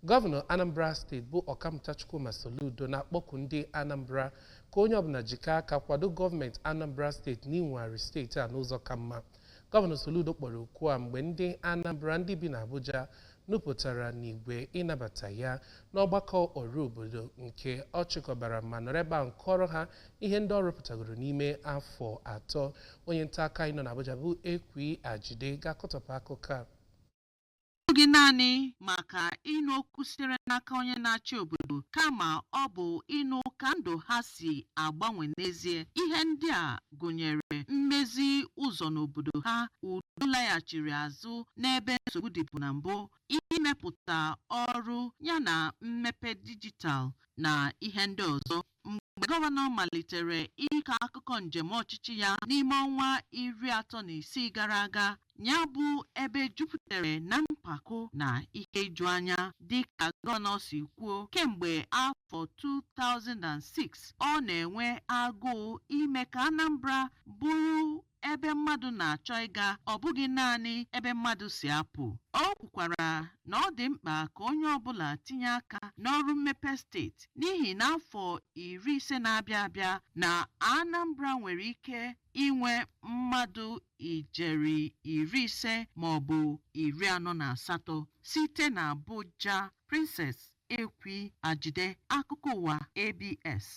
Gọvanọ Anambra steeti bụ Ọkammụta Chukwuma Soludo na-akpọku ndị Anambra ka onye ọbụla jikọọ aka kwado gọọmenti Anambra steeti n'inwegharị steeti a n'ụzọ ka mma. Gọvanọ Soludo kpọrọ oku a mgbe ndị Anambra ndị bi n'Abuja nupụtara n'igwe ịnabata ya n'ọgbakọ ọrụ obodo nke ọ chịkọbara ma nọrọ ebe ahụ kọọrọ ha ihe ndị ọ rụpụtagoro n'ime afọ atọ. Onye nta akụkọ anyị nọ n'Abuja bụ Ekwi Ajide ga-akọtọpụ akụkọ a. bụghị naanị maka ịnụ okwu sitere n'aka onye na-achị obodo kama ọ bụ ịnụ ka ndụ ha si agbanwe n'ezie ihe ndị a gụnyere mmezi ụzọ n'obodo ha udo laghachiri azụ n'ebe nsogbu dịbu na mbụ imepụta ọrụ yana mmepe dijitalụ na ihe ndị ọzọ mgbe gọvanọ malitere ịkọ akụkọ njem ọchịchị ya n'ime ọnwa iri atọ na isii gara aga ya bụ ebe jupụtara na mpako na ihe ijuanya dịka gọvanọ si kwuo kemgbe afọ 2006 ọ na-enwe agụụ ime ka Anambra bụrụ ebe mmadụ na-achọ ịga ọ bụghị naanị ebe mmadụ si apụ. O kwukwara na ọ dị mkpa ka onye ọbụla tinye aka n'ọrụ mmepe steeti n'ihi na afọ iri ise na-abịa abịa na Anambra nwere ike inwe mmadụ ijeri iri ise maọbụ iri anọ na asatọ. Site n'Abuja, Princess Ekwi Ajide, Akụkọ Ụwa, ABS.